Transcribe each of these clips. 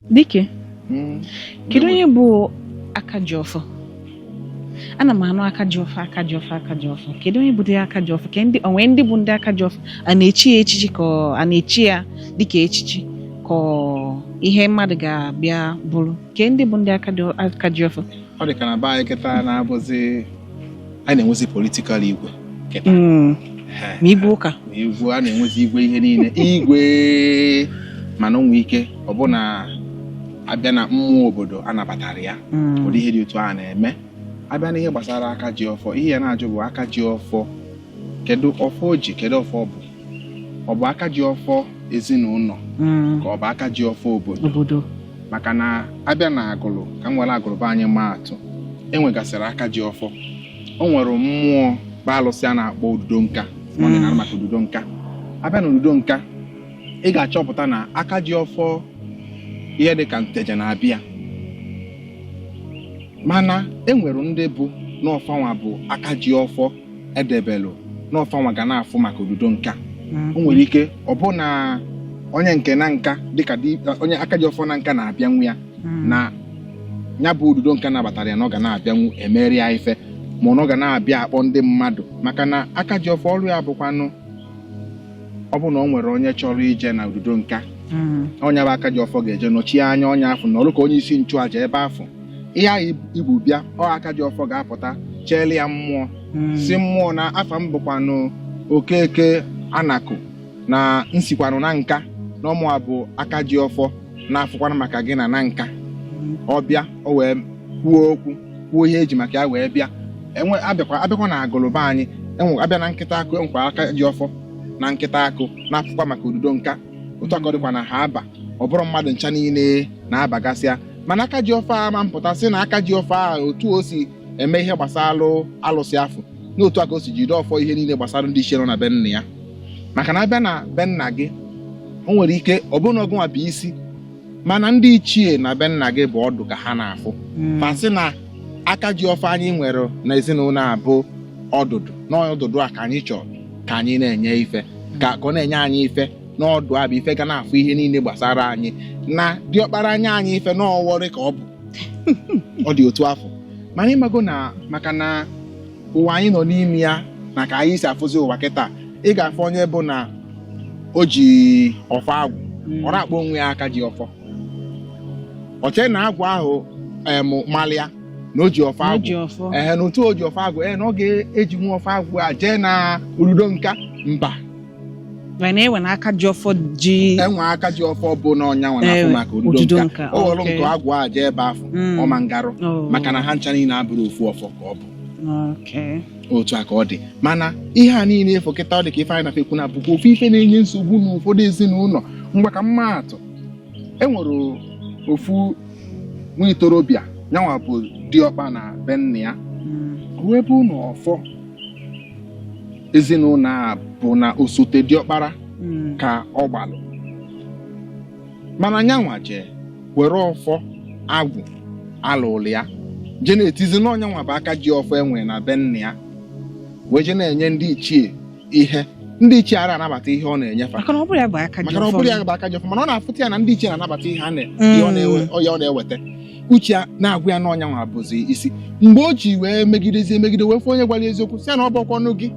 Dike, hmm. kedu onye bụ aka ji ọfọ? ana m anụ aka ji ọfọ aka ji ọfọ aka ji ọfọ kedu onye bụdị aka ji ọfọ kee ndị o nwere ndị bụ ndị aka ji ọfọ a na-echi ya echichi ka a na-echi ya dịka echichi ka ọ ihe mmadụ ga-abịa bụrụ kee ndị bụ ndị aka ji ọfọ ọ dị ka na be anyị kịta na-abụzi a na-enwezi politikal igwe hmm. ma igwe ụka ma igwe a na-enwezi igwe ihe niile igwe mana o nwere ike ọ bụ na a bịa na mmụọ obodo anabatarọ ya hmm. ụdị ihe dị otu a na-eme a bịa na ihe gbasara aka ji ọfọ ihe ị ya na-ajụ bụ aka ji ọfọ kedu ọfọ o ji kedu ọfọ ọ bụ ọ bụ aka ji ọfọ ezinụlọ mm. ka ọ bụ aka ji ọfọ obodo maka na a bịa na agụlụ ka m were agụlụ be anyị maa atụ e nwegasịrị aka ji ọfọ o nwere mmụọ bụ alụsị a na-akpọ ududo nka ọdịnala mm. maka ududo nka a bịa na ududo nka ị ga-achọpụta na aka ji ọfọ ihe dị ka nteje na-abịa mana e nwere ndị bụ na ọ fanwa bụ aka ji ọfọ e debelu na ọ fanwa ga na-afụ maka ududo nka o nwere ike ọ bụ na onye nke nanka dịka di- onye aka ji ọfọ nanka na-abịanwu ya na ya bụ ududo nka nabatara ya na ọ ga na-abịanwu emere ya ife ma ọ na ọ ga na-abịa akpọ ndị mmadụ maka na aka ji ọfọ ọrụ ya bụkwanụ ọ bụrụ na o nwere onye chọrọ ije na ududo nka mm. onye bụ aka ji ọfọ ga-eje nọchie anya onye afụ na ọrụ ka onye isi nchụaja ebe afụ ihe ahụ i bu bịa ọ aka ji ọfọ ga-apụta cheele ya mmụọ mm. sị mmụọ na afa m bụkwanụ okeke anakụ na m sikwanụ nanka na ọ mụwa bụ aka ji ọfọ na-afụkwanụ maka gị na nanka mm. ọ bịa o wee kwuo okwu kwuo ihe e ji maka ya wee bịa ehe a bịakwa a bịakwa na agụlụ be anyị ehe a bịa na nkịtakụ e nwekwa aka ji ọfọ na nkịtakụ na-afụkwa maka ududo nka otu a ka ọ dịkwa na haaba ọ bụrọ mmadụ ncha niile na-abagasị ya mana aka ji ọfọ a ma mpụta sị na aka ji ọfọ a otu o si eme ihe gbasara alụsị afụ na otu a ka o si jide ọfọ ihe niile gbasara ndị ichie nọ na be nna ya maka na a bịa na be nna gị o nwere ike ọ bụrụ na ọ gụnwa bụ isi mana ndị ichie na be nna gị bụ ọdụ ka ha na-afụ hmm. fa sị na aka ji ọfọ anyị nwere na ezinụlọ a bụ ọdụdụ n'ọdụdụ a ka anyị chọrọ ka anyị na-enye ife ka ọ na-enye anyị ife n'ọdụ a bụ ife ga na-afụ ihe niile gbasara anyị na diọkpara a nye anyị ife n'ọwọrị ka ọ bụ ọ dị otu afụ mana ị mago na maka na ụwa anyị nọ n'ime ya na ka anyị si afụzi ụwa kịta ị ga-afụ onye bụ na o ji ọfọ agwụ hmm. ọ na-akpọ onwe ya aka ji ọfọ o che na agwụ ahụ em malụ ya na o ji ọfọ agwụ ehe na otu o ji ọfọ agwụ ee na ọ ga-eji nwa ọfọ agwụ a jee na ududo nka mba mana e nwe na aka ji ọfọ ji e nwe aka ji ọfọ bụ na ọ nyanwa na-afụ maka ududo nka o were nke agwụ a jee ebe afụ hmm. ọ ma ngarụ oh. maka na ha ncha niile abụrọ ofu ọfọ ka ọ bụ Okay. otu a ka ọ dị mana ihe a niile efu kịta ọ dị ka ife anyị na fekwu na-abụkwa ofu ife na-enye nsogbu na ụfọdụ ezinụlọ ngwa ka m maa atụ e nwere ofu nwa ntorobịa yanwa bụ diọkpa na be nna ya Mm. wee bụ na ọfọ ezinụlọ a bụ na osote diọkpara Mm. ka ọ gbalụ mana nyanwa jee were ọfọ agwụ a lụlụ ya je na-etizi na ọ nyanwa bụ aka ji ọfọ e nwe na be nna ya wee je na-enye ndị ichie ihe ndị ichie ara anabata ihe ọ na-enye fa maka na ọ bụrọ ya bụ aka ji maka na ọ ọfọ bụrọ ya bụ aka ji ọfọ mana ọ na-afụta ya na ndị ichie na-anabata ihe a na- Mm. ihe ọ na-ewe- ọ ya ọ na-eweta uche ya na-agwa ya na ọ nyanwa bụzi isi mgbe o ji wee megidezi emegide wee fụ onye gwara ya eziokwu sị ya na ọ bụrọkwanụ gị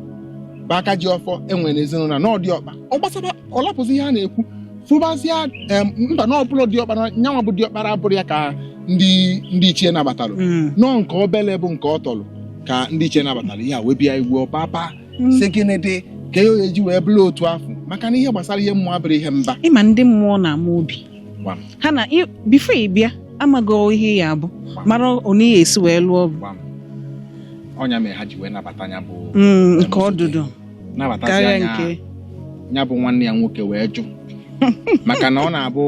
bụ aka ji ọfọ e nwe n'ezinụlọ na ọ diọkpa ọ gbasara ọ lapụzi ihe a na-ekwu fụbazịa em, mba na ọbụla diọkpara nyanwa bụ diọkpara abụrọ ya ka ndị ndị ichie nabatalụ Mm. na ọ nke obele bụ nke ọ tọlụ ka ndị ichie nabatara ihe a wee bịa igwe ọpapa Mm. sị gịnị dị ka ya oye ji wee bụrụ otu afụ maka na ihe gbasara ihe mmụọ abụrọ ihe mba ị ma ndị mmụọ na-ama obi Gbam. ha na ị- before ị bịa amago ihe ya bụ mara onye ya esi wee lụọ ọgụ Gbam. ọ nya mere ha ji wee nabata ya bụ Mm, nke ọdụdụ karịa nke ya bụ nwanne ya nwoke wee jụ maka na ọ na-abụ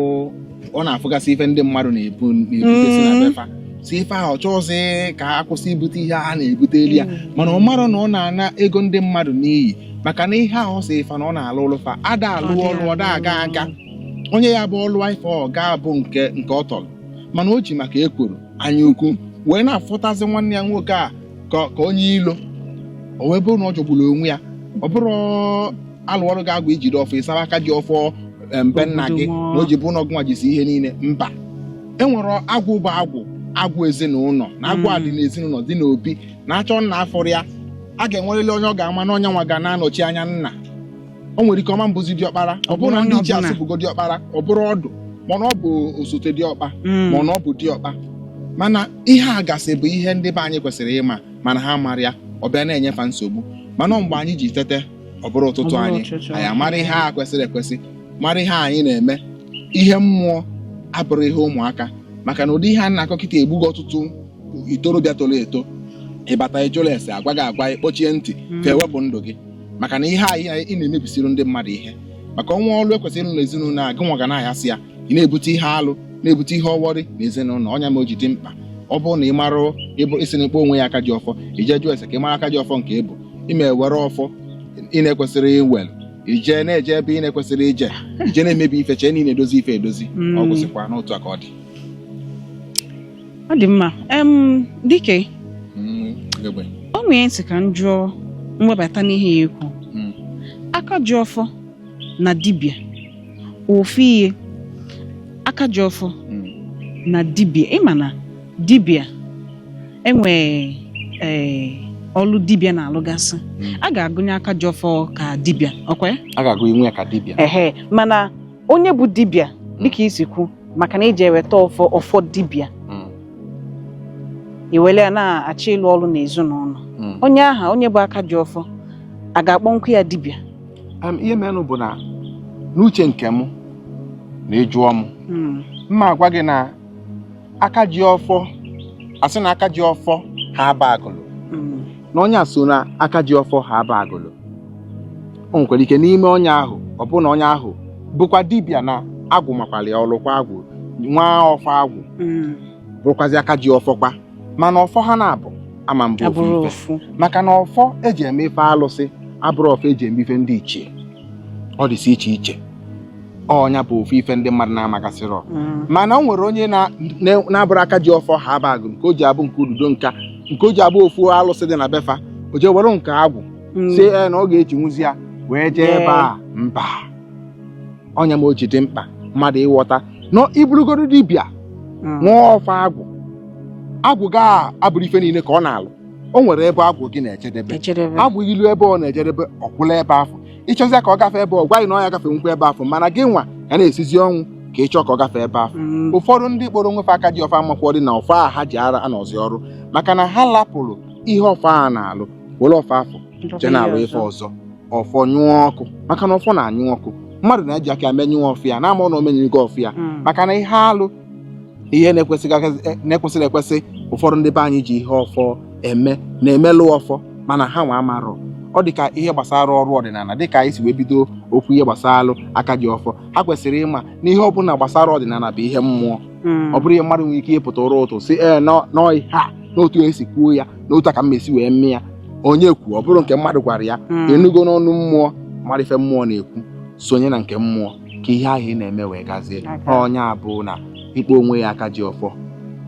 ọ na-afụgasị ife ndị mmadụ na-ebu na-ebutesi na mm. be fa si ife ahụ chọọzi ka a kwụsị ibute ihe a na-ebutelu ya mm. mana ọ marọ na ọ na-ana ego ndị mmadụ n'iyi maka na ihe ahụ si ife na ọ na-alụlụ fa ada alụ ọlụ ọ da aga onye ya bụ ọ lụọ ife ọ gaa bụ nke nke ọ tọrọ mana o ji maka ekworo anya ukwu wee na-afụtazi nwanne ya nwoke a ka ka onye ilo o wee bụrụ na ọ jọgburu onwe ya ọ bụrọ a lụọrọ gị agwụ i jide ọfọ ị zawa aka ji ọfọ em, be nna gị na o ji bụ na ọ gịnwa jizi ihe niile mba e nwere agwụ bụ agwụ agwụ ezinụlọ na agwụ a dị Mm. n'ezinụlọ dị n'obi na-achọ nna afọrọ ya a ga-enwerịrị onye ọ ga-ama na ọ nyanwa ga na-anọchi anya nna o nwere ike ọ ma abụzi diọkpara ọ bụrụ na ndị ichie Ọbụna. asụpụgo diọkpara ọ bụrụ ọdụ mana ọ bụ osote diọkpa Mm. mana ọ bụ diọkpa mana ihe a gasị bụ ihe ndị be anyị kwesịrị ịma mana ha amarọ ya ọ bịa na-enye fa nsogbu mana mgbe anyị ji tete ọ bụrụ ụtụtụ Ọ bụrụ anyị ụtụtụ. anyị amara ihe a kwesịrị ekwesị mara ihe anyị na-eme ihe mmụọ abụrọ ihe ụmụaka maka na ụdị ihe a na-akọ kịta egbugo ọtụtụ ntorobịa toro eto ị bata ị jụrọ ese a gwa gị agwa ị kpọchie ntị ka e wepụ ndụ gị maka na ihe anyị anyị- ị na-emebisiri ndị mmadụ ihe maka o nwee ọrụ e kwesịrị ịrụ n'ezinụlọ a gị nwa ga na-ayasị ya ị na-ebute ihe alụ na-ebute ihe ọwọrị na ezinụlọ ọ nya mee o ji dị mkpa ọ bụrụ na ị mara ị sị na ị kpọ onwe ya aka ji ọfọ i jee jụọ ese ka ị mara aka ji ọfọ nke ị bụ ị ma ewere ọfọ ị na-ekwesịrọ iwele i je na-eje ebe ị na-ekwesịrọ ije i je na-emebi ife chee na ị na-edozi ife edozi ọ Mm. gwụsịkwa n'otu a ka ọ dị ọ dị mma em dike Mm, ugegbe. o nwee m sị ka m jụọ m webata n'ihe a i kwu Mm. aka ji ọfọ na dibịa ofu ihe aka ji ọfọ Mm. na dibịa ị ma na dibịa enwee ee ọlụ dibịa na-alụgasị Mm. a ga-agụnye aka ji ọfọ ka dibịa ọ kwa ya? a ga-agụnye ya ka dibịa ehe mana onye bụ dibịa hmm. dịka i si kwu maka na i jee weta ọfọ ọfọ dibịa hmm. i were ya na-achọ ịlụ ọrụ n'ezinụlọ hmm. onye ahụ onye bụ aka ji ọfọ a ga-akpọnwu ya dibịa ihe merenụ bụ na n'uche nke m na ị jụọ m m ma agwa gị na aka ji ọfọ a sị na aka ji ọfọ Haaba Agụlụ mm. na onye a so na aka ji ọfọ Haaba Agụlụ o nwekwara ike n'ime onye ahụ ọ bụrụ na onye ahụ bụkwa dibịa na agwụ makwara ya ọ lụkwa agwụ nwee ọfọ agwụ mm. bụrụkwazi aka ji ọfọkwa mana ọfọ ha naabọ ama abụ ofu ife maka na ọfọ e ji eme ife alụsị abụrọ ọfọ e ji eme ife ndị ichie ọ dịsị iche iche ọ nya bụ ofu ife ndị mmadụ na-amagasịrọ mm. mana o nwere onye na-abụrụ aka ji ọfọ Haaba Agụlụ nke o ji abụ nke Ududonka nke o ji abụ ofu alụsị dị na be fa o jee were nke agwụ mm. sị na ọ ga-ejinwuzi ya wee jee ebe a mba ọ nya mee o ji dị mkpa mmadụ ịghọta na ị bụlụgodu dibịa mm. nwee ọfọ agwụ agwụ gị abụrọ ife niile ka ọ na-alụ o nwere ebe agwụ gị na-ejedebe agwụ ị luo ebe ọ na-ejedebe ọ kwụlụ ebe afụ ị chọzịa ka ọ gafee ebe ọ gwa gị na ọ ya gafenwukwa ebe afụ mana gị nwa ya na-esizi ọnwụ ka ị chọọ ka ọ gafee ebe afụ Mm. ụfọdụ ndị kpọrọ onwe fa aka ji ọfọ amakwọdị na ọfọ a ha ji ara anọzi ọrụ maka na ha lapụrụ ihe ọfọ a na-alụ were ọfọ afụ je na-alụ ife ọzọ ọfọ nyụọ ọkụ maka na ọfọ na-anyụ ọkụ mmadụ na-eji aka ya menyụọ ọfọ ya na-amarọ na o menyụgo ọfọ ya Mm. maka na ihe alụ ihe na-ekwesịghị agazi- eh, na-ekwesịrị ekwesị ụfọdụ ndị be anyị ji ihe ọfọ eme na-emelụ ọfọ mana ha nwa amarọ ọ dị ka ihe gbasara ọrụ ọdịnala dị ka anyị si wee bido okwu ihe gbasara aka ji ọfọ ha kwesịrị ịma na ihe ọbụla gbasara ọdịnala bụ ihe mmụọ ọ bụrọ ihe mmadụ nwere ike ịpụta ụra ụtụtụ sị ee nọ- nọọ ihe a n'otu esi kwuo ya na otu a ka m si wee mee ya onye kwuo ọ bụrụ nke mmadụ gwara ya ị nụgo n'ọnụ mmụọ mara ife mmụọ na-ekwu sonye na nke mmụọ ka ihe ahụ ị na-eme wee gazie aga. onye ọbụna ịkpọ onwe ya aka ji ọfọ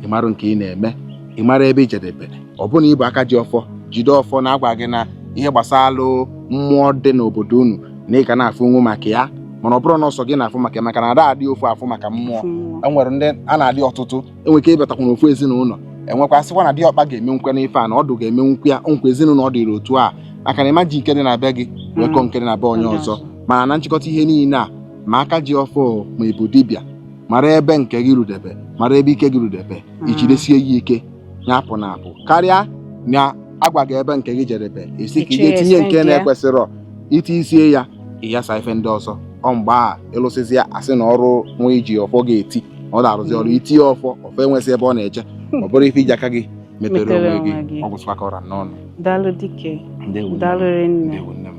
ị mara nke ị na-eme ị mara ebe i jedebe ọ bụrụ na ị bụ aka ji ọfọ jide ọfọ na-agwa gị na ihe gbasara alụ mmụọ dị n'obodo unu na ị ga na-afụnwu maka ya mana ọ bụrọ na ọ sọ gị na-afụ maka ya maka na ada adị ofu afụ maka mmụọ Mmụọ. e nwere ndị a na-adị ọtụtụ e nwere ike ịbatakwuna ofu ezinụlọ enwekwa sịkwa na diọkpa ga-eme nkwe n'ife a na ọdụ ga-eme nkwe ya nkwa ezinụlọ ọ dịrị otu a maka na ị ma-eji nke dị na be gị wee kọọ nke dị na be onye ọzọ mana na nchịkọta ihe niile a ma aka ji ọfọ ma ị bụ dibịa mara ebe nke gị rudebe mara ebe ike gị rudebe i jidesie ya ike ya apụna apụ karịa na a gwa gị ebe nke gị jedebe esi ka ị Ichie ga-etinye ese nke nke ya. na-ekwesịrọ iti isi ya ị yasa ife ndị ọzọ ọ mgbe a ị lụsịzi ya a sị na ọrụ nwa i ji ọfọ ga-eti ọ na-arụzi ọrụ itinye ọfọ ọfọ enwezi ebe ọ na-eche ọ bụrụ ife i ji aka gị metere Metere onwe gị onwe gị. ọ gwụsịkwa ka ọ ra n'ọnụ daalụ dike Ndewo nne m. daalụ rinne Ndewo nne m